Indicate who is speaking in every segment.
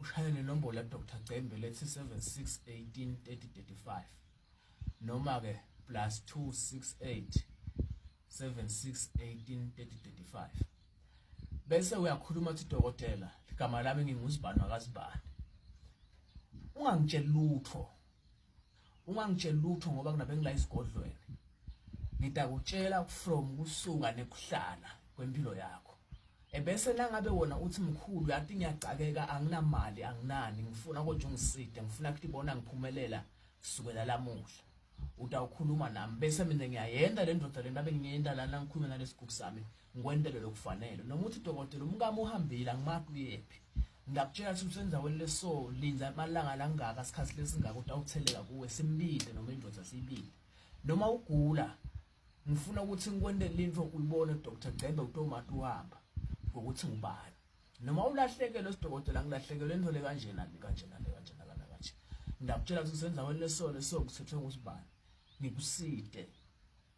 Speaker 1: Ushaya nenombolo Dr Cembe lethi 76183035 noma ke plus 268 76183035 bese uyakhuluma uthi dokotela igama lami nginguzibani wakazibani ungangitsheli lutho ungangitsheli lutho ngoba kunabengila isigodlweni ngidakutshela from kusuka nekuhlala kwempilo yakho ebese nangabe wona uthi mkhulu yathi ngiyagcakeka anginamali anginani ngifuna kodwa ungiside ngifuna ukuthi bona ngiphumelela kusukela lamuhla utawukhuluma nami bese mina ngiyayenda le ndoda le ndabe ngiyenda lana ngikhulume nalesigubu sami ngikwentele lokufanele noma uthi dokotela umkami uhambile angimazi uyephi ngiyakutshela ukuthi usendaweni leso linda amalanga langaka sikhathi lesingaka ukuthi awutheleka kuwe simlinde noma indoda siyibile noma ugula ngifuna ukuthi ngikwentele into uyibone Dr Gcembe utomati uhamba ngokuthi ngubani noma ulahlekelwe sidokotela ngilahlekelwe into le kanjena le kanjena le kanjena kana kanje ngiyakutshela ukuthi usendaweni leso leso kuthethwe ukuthi bani ngikuside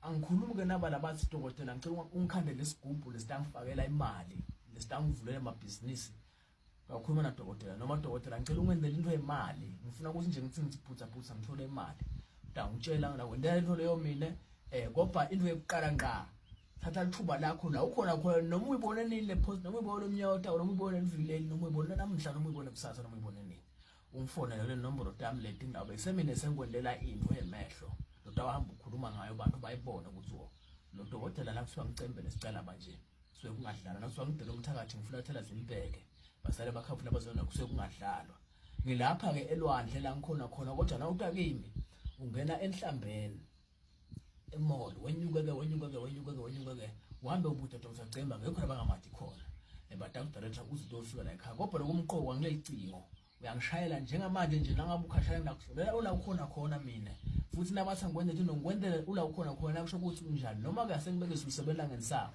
Speaker 1: Angikhulumi ke naba labathi dokotela ngicela ungikhandele isigubhu lesitangifakela imali lesitangivulela amabhizinisi ngakhuluma nadokotela noma dokotela ngicela ungenzele into yemali ngifuna ukuthi nje ngithi ngiphutha phutha ngithole imali ngitangitshela ngina kwendela into leyo mina eh kodwa into yokuqala ngqa thatha lithuba lakho la ukhona khona noma uyibone nini le post noma uyibone lomnyota noma uyibone livileli noma uyibone namhla noma uyibone kusasa noma uyibone nini ungifonele le nombolo tami leti ngabe semine sengikwendela into emehlo lodwa wahamba ukhuluma ngayo abantu bayibone ukuthi wo lo dokotela la kuthiwa ngicembele sicela manje suke kungadlalwa nakuthiwa ngidela umthakathi ngifulathela zimbeke basale bakhafuna bazona kusuke kungadlalwa ngilapha-ke elwandle la ngikhona khona kodwa nawuta kimi ungena enhlambeni emall wenyuke ke wenyuke ke wenyuke ke wenyuke ke uhambe ubude Dr Cemba ngekho abangamathi khona ebada eh, kudirector uze utofika la ekhaya kodwa lokumqoka ngileli cingo uyangishayela njengamanje nje nangabe ukhashaya nakuhlolela ula ukhona khona mina futhi nabathi angikwenzela into ngikwenzela ula ukhona khona kusho ukuthi unjani noma ke asengibeke sisebenza ngensawo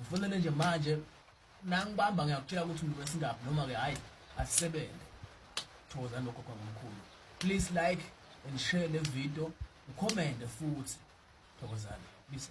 Speaker 1: Ufunele nje manje nangibamba ngiyakutshela ukuthi umuntu wesingaphi noma ke hayi asisebenze. Thokozani lokho kwa mkhulu. Please like and share le video, ucommente futhi. Thokozani. Bisa.